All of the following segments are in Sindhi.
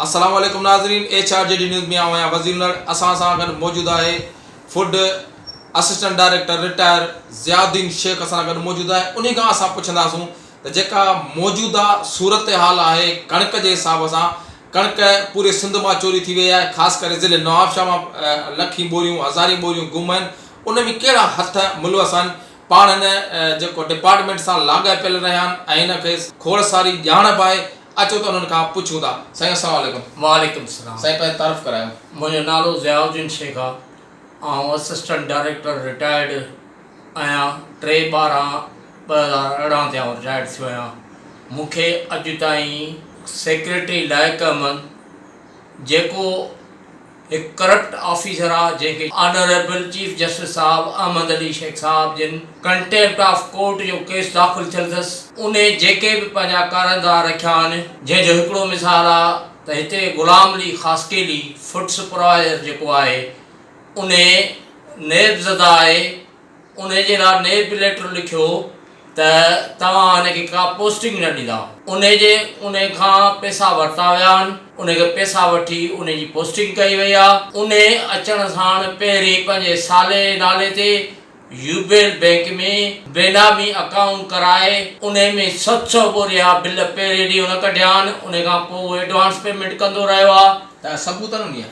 السلام عليڪم ناظرين H R G D news ۾ آئون آهيان وزير نڙ اسان سان گڏ موجود آهي food assistant director retire Ziauddin Shaikh اسان سان گڏ موجود آهي انهي کان اسان پڇنداسون ته جيڪا موجوده صورتحال آهي ڪڻڪ جي حساب سان ڪڻڪ پوري سنڌ مان چوري ٿي وئي آهي خاص ڪري ضلعي نوابشاهه مان لکين ٻوريون هزارين ٻوريون گم آهن ان ۾ ڪهڙا هٿ ملوث آهن پاڻ هن جيڪو ڊپارٽمينٽ سان لاڳاپيل رهيا آهن ۽ هن کي کوڙ ساري ڄاڻ به آهي اچو ته انهن کان پڇون ٿا سائين السلام عليڪم. وعليڪم السلام. سائين پنهنجو تعارف ڪرايو. منهنجو نالو ضياء الدين شيخ آ آئون اسسٽنٽ ڊائريڪٽر رٽائرڊ آهيان ٽي ٻارهن ٻه هزار ارڙهن تي آئون رٽائرڊ ٿيو آهيان مون کي اڄ تائين سيڪريٽري لائق احمد جيڪو هڪ ڪرپٽ آفيسر آ جنهن کي آنريبل چيف جسٽس صاحب احمد علي شيخ صاحب جن ڪنٽيمپٽ آف ڪورٽ جو ڪيس داخل ٿيل ٿس ان جيڪي به پنهنجا ڪارندا رکيا آهن جنهن جو هڪڙو مثال آ ته هتي غلام علي خاصخيلي فوڊ سپروائيزر جيڪو آهي ان نيب زده آهي انهيء جي لاء نيب ليٽر لکيو ته توهان هن کي ڪا پوسٽنگ نه ڏيندا. انهيء جي انهيء کان پئسا ورتا ويا آهن. انهيء کي پئسا وٺي انهيء جي پوسٽنگ ڪئي وئي آهي. انهيء اچڻ ساڻ پهرين پنهنجي سالي جي نالي تي يوبيل بئنڪ ۾ بينامي اڪائونٽ ڪرائي انهيء ۾ ست سؤ ٻوريا بل پهرين ڏينهن هن ڪڍيا آهن. انهيء کان پوء هو ايڊوانس پيمينٽ ڪندو رهيو آهي. تنهنجا ثبوت نه مليا.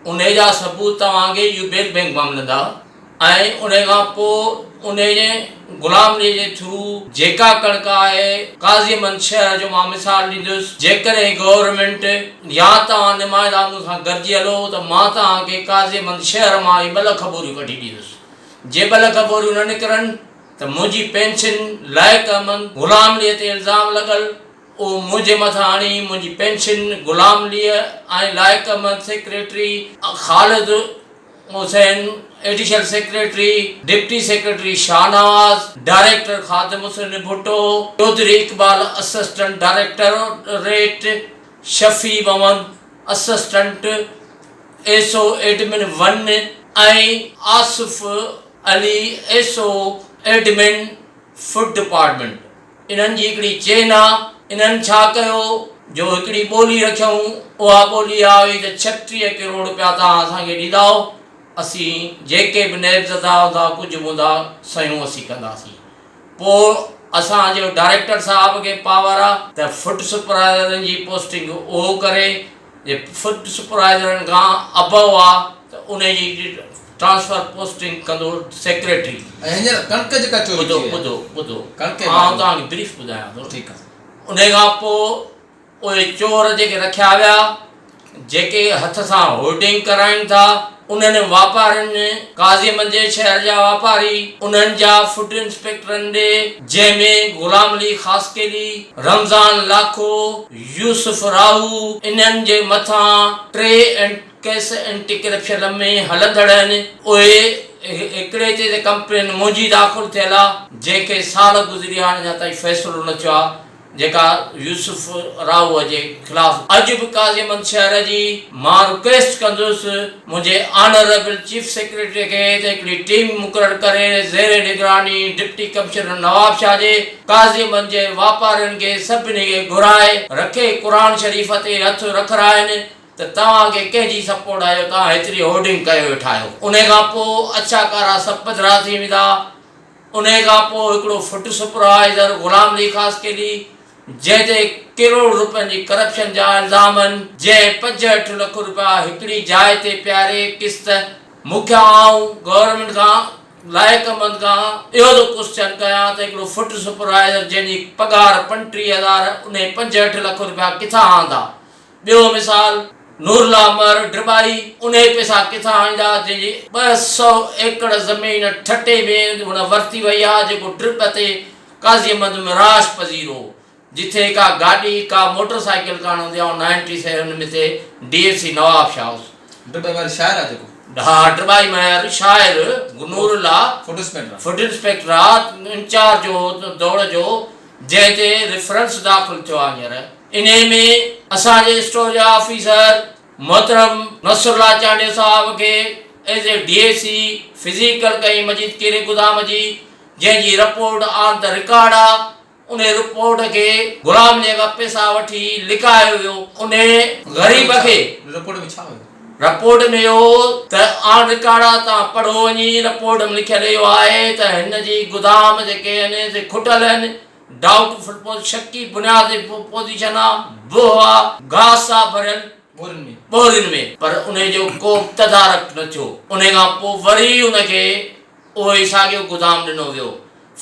انهيء جا ثبوت توهان کي يوبيل بئنڪ مان ملندا. ۽ انهي کان پوء انهي جي غلام ڏي جي ٿرو جيڪا ڪڻڪ آهي قاضي مند شهر جو مان مثال ڏيندس جيڪڏهن گورنمينٽ يا توهان نمائندا مون سان گڏجي هلو ته مان توهان کي قاضي مند شهر مان اهي ٻه لک ٻوريون ڪڍي ڏيندس جي ٻه لک ٻوريون نه نڪرن ته منهنجي پينشن لائق احمد غلام ڏي تي الزام لڳل اهو منهنجي مٿان هڻي منهنجي پينشن غلام ڏي ۽ Laiq Ahmed secretary Khalid Hussain, additional secretary, deputy secretary Shahnawaz, director Khadim Hussain Bhutto, Chaudhry Iqbal assistant directorate, Shafi Muhammad assistant S O admin one ۽ Asif Ali S O admin food department, انهن جي هڪڙي چين آ، انهن ڇا ڪيو جو هڪڙي ٻولي رکيائون، اها ٻولي اها هئي ته ڇٽيهه ڪروڙ رپيا توهان اسان کي ڏيندائو، اسين جيڪي به نيب زدا هوندا، ڪجهه به هوندا، سيون اسين ڪنداسين. پوء اسان جو ڊائريڪٽر صاحب کي پاور آ. ته فٽ سپرائيزرن جي پوسٽنگ اهو ڪري. جي فوڊ سپرائيزرن کان ابئو آ ته انهي جي ٽرانسفر پوسٽنگ ڪندو سيڪريٽري. ۽ هينئر ڪڻڪ جيڪا چوري ٿي ٻڌو ٻڌو ٻڌو ڪڻڪ جي آئون باري ۾ توهان کي بريف ٻڌايان ٿو ٺيڪ آ. انهي کان پو اهي چور جيڪي رکيا ويا جيڪي هٿ سان هولڊنگ ڪرائين ٿا انهن واپارين ۾ قاضي منجهي شهر جا واپاري، انهن جا فوٽ انسپيڪٽرن ڏي، جنهن ۾ غلام علي خاصخيلي، رمضان لاکو، يوسف راهو، انهن جي مٿان ٽي اينٽ ڪيس اينٽي ڪرپشن ۾ هلندڙ آهن، اهي هڪڙي تي ته ڪمپلين منهنجي داخل ٿيل آهي، جنهن کي سال گذري هاڻ اڃا تائين فيصلو نه ٿيو آهي. جيڪا يوسف راهوء جي خلاف اڄ به قاضي محمد شهر جي مان رڪويسٽ ڪندس منهنجي آنريبل چيف سيڪريٽري کي ته هڪڙي ٽيم مقرر ڪري زير نگراني ڊپٽي ڪمشنر نوابشاهه جي قاضي محمد جي واپارين کي سڀني کي گهرائي رکي قرآن شريف تي هٿ رکرائين ته توهان کي ڪنهن جي سپورٽ آهي جو توهان هيتري هورڊنگ ڪيو ويٺا آهيو انهي کان پوء اڇا ڪارا سڀ پڌرا ٿي ويندا. انهيء کان پوء هڪڙو فٽ سپرائيزر غلام علي خاصخيلي جنهن تي ڪروڙ روپين جي ڪرپشن جا الزام هن، جنهن پنجهٺ لک روپيا هڪڙي جاء تي پياري قسط مون کي آئون گورنمينٽ کان لائقمند کان اهو ٿو ڪوسچن ڪيان ته هڪڙو فٽ سپرائيزر جنهن جي پگهار پنٽيهه هزار انهي پنجهٺ لک روپيا ڪٿان آندا ٻيو مثال نورالله مهر ڊرٻائي انهي پئسا ڪٿان آڻيندا جنهن جي ٻه سؤ ايڪڙ زمين ٺٽي ۾ هن ورتي وئي آ جيڪو ڊرٻ تي قاضي محمد مهراش پذير هو جتي ڪا گاڏي ڪا موٽر سائيڪل ڪانه هوندي آ ان ٽي سئي ان مٿي D F C Nawab Shah هوس. ڊرٻائي مهر شاعر آ جيڪو. ها ڊرٻائي مهر شاعر نورالله فوڊ انسپيڪٽر آ فوڊ انسپيڪٽر آ انچارج هو دوڙ جو جنهن تي ريفرنس داخل ٿيو آهي هينئر انهي ۾ اسان جي اسٽور جا آفيسر محترم نصر الله چانڊيو صاحب کي as A D E C physical ڪئي مجيد ڪيري گدام جي جنهن جي رپورٽ آن ته رڪارڊ آ انهي رپورٽ کي غلام جي کان پيسا وٺي لڪايو ويو انهي غريب کي. رپورٽ ۾ اهو ته آن رڪارڊ تان پڙهو وڃي، رپورٽ ۾ لکيل اهو آهي ته هن جي گدام جيڪي آهن سي کٽيل آهن، ڊائوٽ فل پوزيشن، شڪي بنياد تي پوزيشن آ، بوهه آ، گاهه ساهه ڀريل ٻورين ۾، پر انهي جو ڪو به تدارڪ نه ٿيو، انهي کان پوء وري ان کي اهو ئي ساڳيو گدام ڏنو ويو،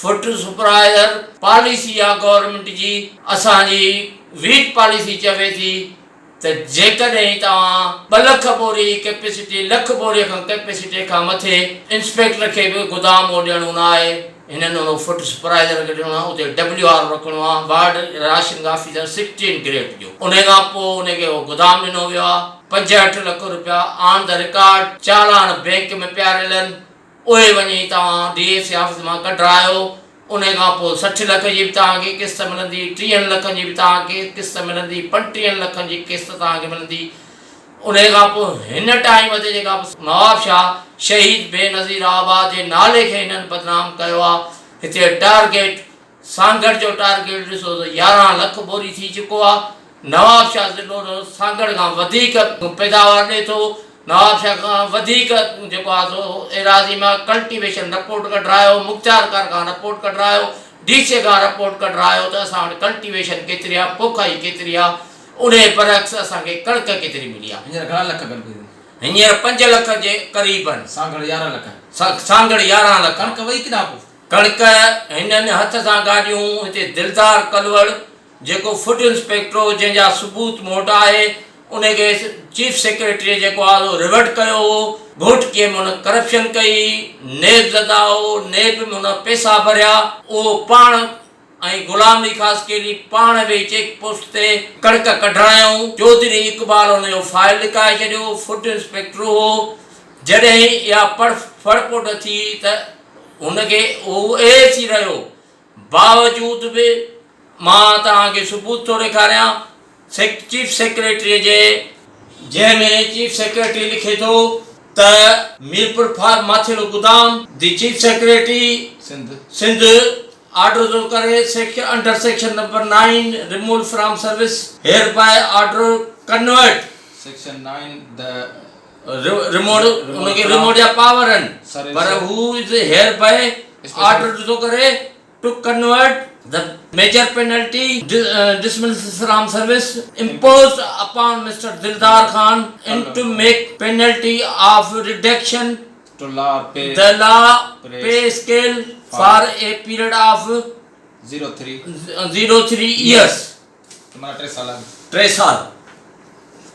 فوڊ سپرائيزر پاليسي آ گورنمينٽ جي، اسان جي ويٽ پاليسي چوي ٿي، ته جيڪڏهن توهان ٻه لک بوري ڪيپيسٽي لک بوري کان ڪيپيسٽي کان مٿي انسپيڪٽر کي به گدام اهو ڏيڻو نه آهي هنن اهو فوڊ سپرائيزر کي ڏيڻو آهي اتي ڊبليو آر او رکڻو آهي ward rationing officer sixteen grade جو انهي کان پوء ان کي اهو گدام ڏنو ويو آهي پنجهٺ لک روپيا آن دي رڪارڊ چالان بينڪ ۾ پيا رلن اهي وڃي توهان ڊي اي سي آفيس مان ڪڍرايو انهي کان پوء سٺ لک جي به توهان کي قسط ملندي ٽيهن لکن جي به توهان کي قسط ملندي پنٽيهن لکن جي قسط توهان کي ملندي انهي کان پوء هن ٽائيم تي جيڪا به نواب شاهه شهيد بينظير آباد جي نالي کي هنن بدنام ڪيو آ هتي ٽارگيٽ سانگهڙ جو ٽارگيٽ ڏسو ته يارهن لک بوري ٿي چڪو آهي، نوابشاهه ضلعو ته سانگهڙ کان وڌيڪ پيداوار ڏئي ٿو، نوابشاهه کان وڌيڪ جيڪو آهي سو ايراضي مان ڪلٽيويشن رپورٽ ڪڍرايو، مختيارڪار کان رپورٽ ڪڍرايو، ڊي سي کان رپورٽ ڪڍرايو ته اسان وٽ ڪلٽيويشن ڪيتري آهي، پوکائي ڪيتري آهي، انهي برعڪس اسان کي ڪڻڪ ڪيتري ملي آهي. هينئر گهڻا لک ڪڻڪ ٿي؟ هينئر پنج لک جي قريبن. سانگهڙ يارهن لک. سانگهڙ يارهن لک. ڪڻڪ وئي ڪيڏانهن پوء؟ ڪڻڪ، هنن هٿ سان گاڏيون، هتي دلدار ڪلوڙ جيڪو فوڊ انسپيڪٽر هو جنهن جا ثبوت مون وٽ آهي ان کي چيف سيڪريٽريء جيڪو آهي سو ريورٽ ڪيو هو، گهوٽڪيء ۾ هن ڪرپشن ڪئي، نيب زده هو، نيب ۾ هن پئسا ڀريا، اهو پاڻ ۽ غلام علي خاصخيلي پاڻ ويهي چيڪ پوسٽ تي ڪڻڪ ڪڍڻ آيو هو. چوڌري اقبال ان جو فائل لڪائي ڇڏيو هو. فوڊ انسپيڪٽر هو. جڏهن اها پڙ ڦڙ پوڊ ٿي ته هن کي اهو احس ئي رهيو. باوجود به مان توهان کي ثبوت ٿو ڏيکاريان. سيڪ چيف سيڪريٽريء جي، جنهن ۾ چيف سيڪريٽري لکي ٿو ته ميرپور فار ماٿيلو گدام، the chief secretary, Sindh, order ٿو ڪري، sack under section number nine, removal from service, hereby order convert, section nine, the removal ان کي ريمول جا پاور آهن، پر هو از هيئر بائي آرڊرڊ ٿو ڪري. To convert the major penalty dismissal from service imposed upon mister Dildar Khan in to make penalty of reduction to lower the lower pay scale for a period of zero three zero three years ٽي سال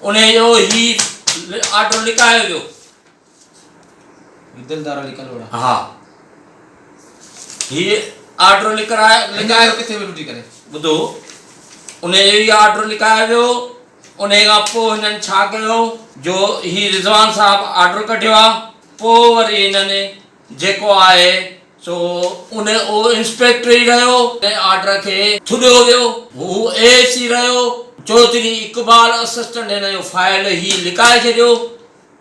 انهي جو هي آرڊر لکايو ويو. دل دارا لي ڪلهوڙا. ها هي آرڊر لکرايو لکايو ڪٿي ويٺو ٿي ڪري ٻڌو انهي جو هي آرڊر لکايو ويو انهي کان پوء هنن ڇا ڪيو جو هي رضوان صاحب آرڊر ڪڍيو آ پوء وري هنن جيڪو آهي سو ان اهو انسپيڪٽر ئي رهيو انهي آرڊر کي ٿڏيو ويو هو اي اي سي رهيو چوڌري اقبال اسسٽنٽ هن جو فائل هي لڪائي ڇڏيو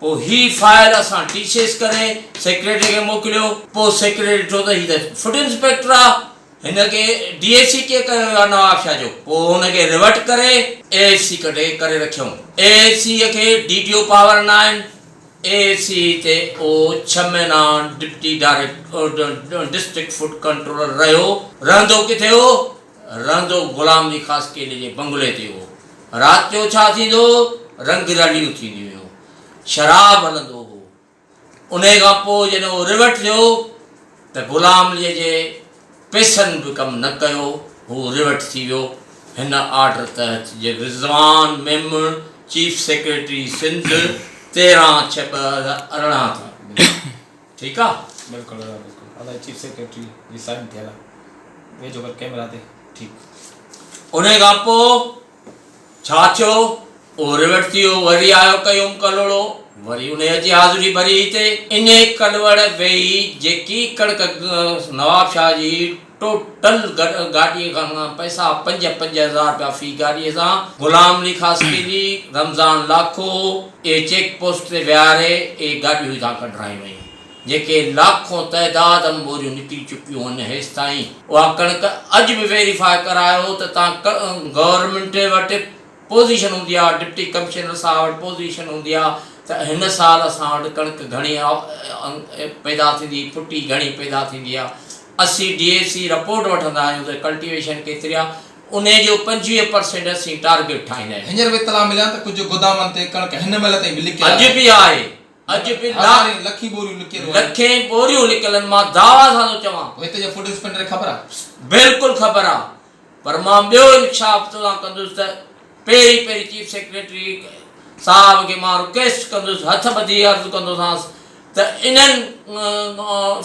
پوء هي فائل اسان ٽي سيس ڪري سيڪريٽري کي موڪليو. پوء سيڪريٽري ڏٺو ته هي ته فوڊ انسپيڪٽر آ، هن کي ڊي ايس سي ڪيئن ڪيو ويو آ نواب شاهه جو؟ پوء هن کي ريورٽ ڪري اي ايس سي ڪڍي ڪري رکيائون. اي ايس سي کي ڊي ٽي او پاور ناهن. اي ايس سي تي اهو ڇهه مهينا deputy director district food controller رهيو. رهندو ڪٿي هو؟ رهندو غلام علي خاص ڪيلي جي بنگلي تي هو. رات جو ڇا ٿيندو هو؟ رنگ رليون ٿينديون هيون. شراب هلندو هو. انهيء کان پوء جڏهن اهو ريوٽ ٿيو ته غلام عليء جي پئسن به ڪم نه ڪيو. هو ريوٽ ٿي ويو. هن آرڊر تحت جي رضوان ميمڻ چيف سيڪريٽري سنڌ تيرهن ڇهه ٻه هزار ارڙهن تي ٺيڪ آ بلڪل دادا بلڪل الائي چيف سيڪريٽري جي سائين ٿيل آ ويجهو ڪر ڪيمرا تي ٺيڪ انهي کان پو ڇا ٿيو اهو ريورٽ ٿي ويو وري آيو قيوم ڪلهوڙو وري انهي اچي حاضري ڀري هتي انهي ڪلهوڙ ويهي جيڪي ڪڙڪ نواب شاهه جي ٽوٽل گاڏيء کان گهڻا پئسا، پنج پنج هزار رپيا في گاڏيء سان، غلام علي خاصخيلي، رمضان لاکو اهي چيڪ پوسٽ تي ويهاري اهي گاڏيون هتان ڪڍرايون ويون، جنهن کي لاکون تعداد م ٻوريون نڪري چڪيون هن هيستائين. اها ڪڻڪ اڄ به ويريفاء ڪرايو ته تان گورنمينٽ وٽ پوزيشن هوندي آ، ڊپٽي ڪمشنر صاحب وٽ پوزيشن هوندي آ ته هن سال اسان وٽ ڪڻڪ گهڻي پيدا ٿيندي، ڦٽي گهڻي پيدا ٿيندي آ، اسين ڊي اي سي رپورٽ وٺندا آهيون ته ڪلٽيويشن ڪيتري آهي، انهي جو پنجويهه پرسينٽ اسين ٽارگيٽ ٺاهيندا آهيون. هينئر به اطلاع مليا ته ڪجهه گودامن تي ڪڻڪ هن مهل تائين به لڪيل آهي. اڄ به آهي، اڄ به هزارين، لکين ٻوريون لڪيل آهن. لکين ٻوريون لڪيل آهن، مان دعويٰ سان ٿو چوان. پوء هتي جي فوڊ انسپيڪٽر کي خبر آهي؟ بلڪل خبر آهي. پر مان ٻيو انڪشاف توسان ڪندس ته پهرين پهرين چيف سيڪريٽري صاحب کي مان رڪويسٽ ڪندس هٿ ٻڌي عرض ڪندوسانس ته انهن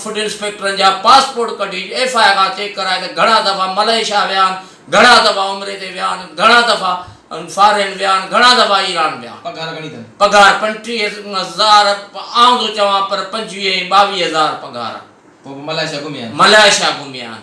فوڊ انسپيڪٽرن جا پاسپورٽ ڪڍي ايف آء کان چيڪ ڪرائي ته گهڻا دفعا ملائيشيا ويا آهن گهڻا دفعا عمري تي ويا آهن گهڻا دفعا فارين ويا آهن گهڻا دفعا ايران ويا آهن پگهار پنٽيهه هزار آئون ٿو چوان پر پنجويهه ۽ ٻاويهه هزار پگهار ملائيشيا گهميا آهن.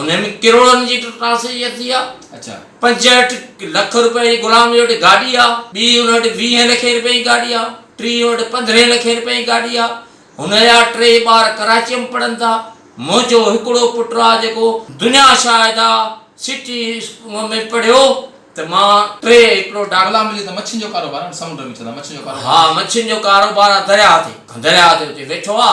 انهيء ۾ ڪروڙن جي ٽرانسيڪشن ٿي آ، پنجهٺ لک روپين جي غلام جي وٽ گاڏي آ، ٻي ان وٽ ويهين لکين روپين جي گاڏي آ، ٽي ان وٽ پندرهين لکين روپين جي گاڏي آ، هن جا ٽي ٻار ڪراچيء ۾ پڙهن ٿا، منهنجو هڪڙو پٽ آ جيڪو دنيا شاهد آ سٽي اسڪول ۾ پڙهيو ته مان ٽي هڪڙو ڊاڪٽر. ها مڇين جو ڪاروبار آ درياهه تي، درياهه تي اتي ويٺو آ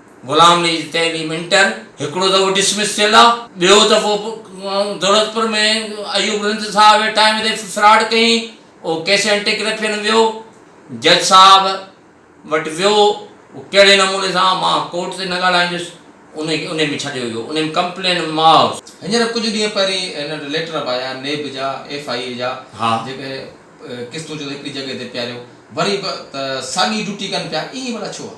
غلام علي جي تعليم انٽر هڪڙو دفعو ڊسمس ٿيل آ ٻيو دفعو دولتپور ۾ ايوب رند صاحب جي ٽائيم تي فراڊ ڪيائين او ڪيس اينٽي ڪرپشن ويو جج صاحب وٽ ويو او ڪهڙي نموني سان مان ڪورٽ تي نه ڳالهائيندس ان کي انهي ۾ ڇڏيو ويو انهي ۾ ڪمپلين ماء هينئر ڪجهه ڏينهن پهرين هن وٽ ليٽر به آيا نيب جا ايف آء اي جا جيڪي قسطون چون ته هڪڙي جڳهه تي پياريو وري به ته ساڳي ڊيوٽي ڪن پيا ائين ڀلا ڇو آ؟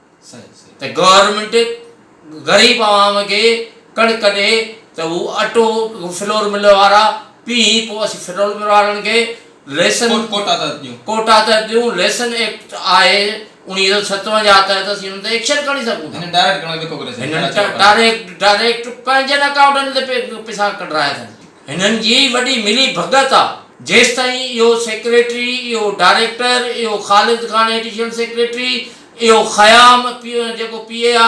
ته گورنمينٽ غريب عوام کي ڪڻڪ ڏي ته هو اٽو فلور مل وارا پي پو اسين فلور مل وارن کي ريسن ڪوٽا تحت ڏيون ريسن ايڪٽ آهي اوڻيهه سئو ستونجاهه تحت اسين انهن تي ايڪشن کڻي سگهون ٿا ڊائريڪٽ ڊائريڪٽ پنهنجن اڪائونٽن تي پيسا ڪڍرائي اٿن هنن جي ئي وڏي ملي ڀڳت آ. جيستائين اهو سيڪريٽري، اهو ڊائريڪٽر، اهو خالد خان ايڊيشنل سيڪريٽري، اهو خيام جيڪو پي اي آ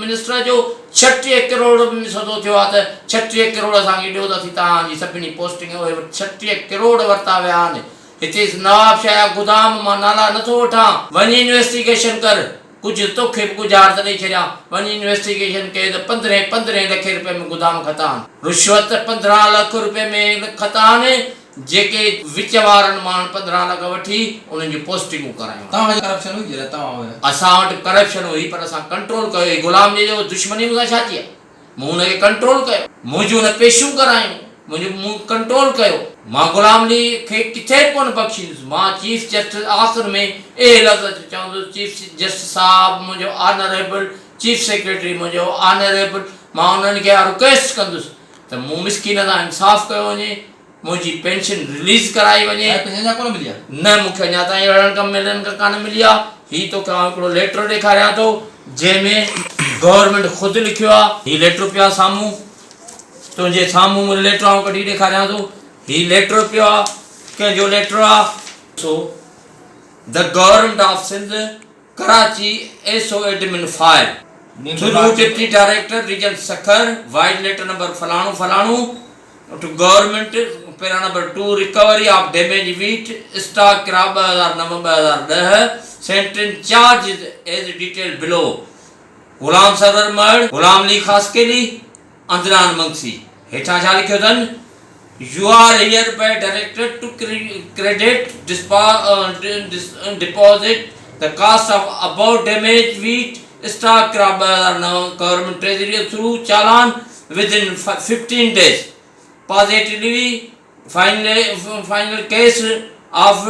منسٽر جو ڇٽيهه ڪروڙ ۾ سودو ٿيو آ ته ڇٽيهه ڪروڙ اسان کي ڏيو ته اسين توهان جي سڀني پوسٽنگ اهي وٽ ڇٽيهه ڪروڙ ورتا ويا آهن هتي نوابشاهه جا گدام مان نالا نٿو وٺان وڃ انويسٽيگيشن ڪر. ڪجهه توکي به ڳجهارت ڏئي ڇڏيان، وڃ انويسٽيگيشن ڪيو ته پندرهين پندرهين لکين روپين ۾ گدام کتا آهن. رشوت پندرهن لک روپين ۾ کتا آهن، جيڪي وچ وارن مان پندرهن لک وٺي انهن جون پوسٽنگون ڪرايون. توهان وٽ ڪرپشن هئي جڏهن توهان هيا؟ اسان وٽ ڪرپشن هئي پر اسان ڪنٽرول ڪيو هئي، غلام جي جو دشمني مون سان ڇا ٿي آهي؟ مون ان کي ڪنٽرول ڪيو. مون جون نه پيشيون ڪرايون. منهنجو مون ڪنٽرول ڪيو. مان غلام علي کي ڪٿي به ڪونه بخشيندس. مان چيف جسٽس آخر ۾ اهي لفظ اچي چوندس چيف جسٽس صاحب منهنجو آنريبل چيف سيڪريٽري منهنجو آنريبل مان انهن کي اها رڪويسٽ ڪندس ته مون مسڪين سان انصاف ڪيو وڃي. منهنجي پينشن رليز ڪرائي وڃي. سائين پينشن اڃا ڪونه ملي آهي. نه مون کي اڃا تائين اهڙن ڪم ميلن کان ڪانه ملي آهي. هي توکي آئون هڪڙو ليٽر ڏيکاريان ٿو جنهن ۾ گورنمينٽ خود لکيو آهي. هي ليٽر پيو آهي سامهون تنهنجي سامهون مون ليٽر آئون ڪڍي ڏيکاريان ٿو هي ليٽر پيو آهي ڪنهن جو ليٽر آهي. سو The Government of Sindh Karachi SO Admin File Through Deputy Director Region Sakhar Wide Letter Number فلاڻو فلاڻو. اٺ government, para number two, recovery of damage wheat, stock ڪرا ٻه هزار نو ٻه هزار ڏهه، سينٽرين charges as detailed below, Ghulam Sarwar Mahar, Ghulam Ali Khaskheli, Adnan Mangsi. هيٺان ڇا لکيو اٿن؟ You are hereby directed to credit deposit the cost of above damage wheat, stock ڪرا ٻه هزار نو، گورنمينٽ ٽريزري ٿرو چالان، Within fifteen days positively final case of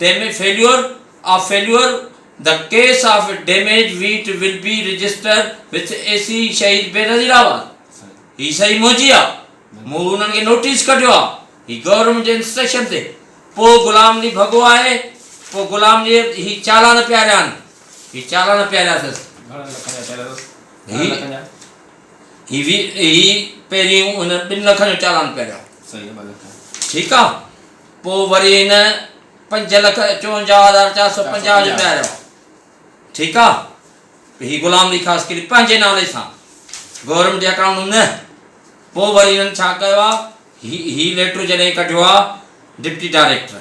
damage failure of failure the case of damage wheat will be register with A C Shaheed Benazir آباد هي صحيح منهنجي آ مون انهن کي نوٽيس ڪڍيو آ هي گورنمينٽ جي انسٽرڪشن تي پو غلام علي ڀڳو آهي پو غلام علي هي چالان پياريا آهن هي چالان پياريا اٿس گهڻن لکن جا پياريا اٿس هي هي وي هي پهريون هن ٻن لکن جو چالان پيا ڏيان صحيح ٻه لک ٺيڪ آ پو وري هن پنج لک چونجاهه هزار چار سو پنجاهه جو پيا ڏيان ٺيڪ آ هي غلام علي خاص ڪري پنهنجي نالي سان گورنمنٽ جي اڪائونٽ نه پو وري هنن ڇا ڪيو آ هي هي ليٽر جڏهن ڪڍيو آ ڊپٽي ڊائريڪٽر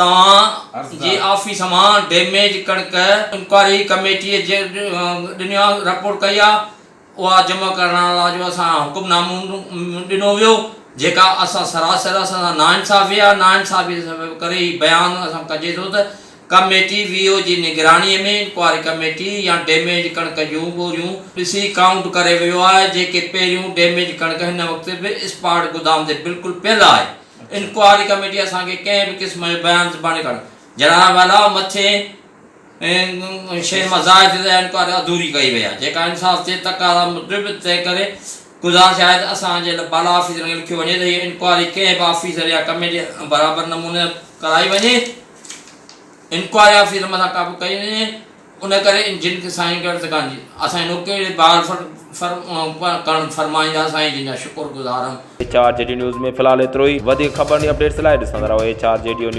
توهان جي آفيس مان ڊيميج ڪڻڪ انڪوائري ڪميٽيء ڏنيا رپورٽ ڪئي آهي، اها جمع ڪرڻ لاء جو اسان کي حڪم نامو ڏنو ويو، جيڪا اسان سراسر اسان سان ناانصافي آهي، ناانصافي سبب ڪري هي بيان اسان ڪجي ٿو ته ڪميٽي وي او جي نگراني ۾ انڪوائري ڪميٽي يا ڊيميج ڪڻڪ جون ٻوريون ڏسي ڪائونٽ ڪري ويو آهي، جيڪي پهريون ڊيميج ڪڻڪ هن وقت به اسپاٽ گودام تي بلڪل پيل آهي. انڪوائري ڪميٽي اسان کي ڪنهن به قسم جو بيان زباني ڪرڻ جناحوالا مٿين شين مان ظاهر ٿئي ته اها انڪوائري اڌوري ڪئي وئي آهي جيڪا انصاف جي تقاضا موجب تنهن ڪري گذارش آهي ته اسان جي بالا آفيسرن کي لکيو وڃي ته هيء انڪوائري ڪنهن به آفيسر يا ڪميٽي برابر نموني ڪرائي وڃي انڪوائري آفيسر مٿان ڪابه ڪئي وڃي ان ڪري جن کي سائين ڪيو تنهن کان اسان جي نوڪري جي بحال ڪرڻ فرمائيندا سائين جن جا شڪر گذار آهيون. H R G D news ۾ في الحال ايترو ئي وڌيڪ خبرن ۽ اپڊيٽس لاء ڏسندا رهو H R G D news.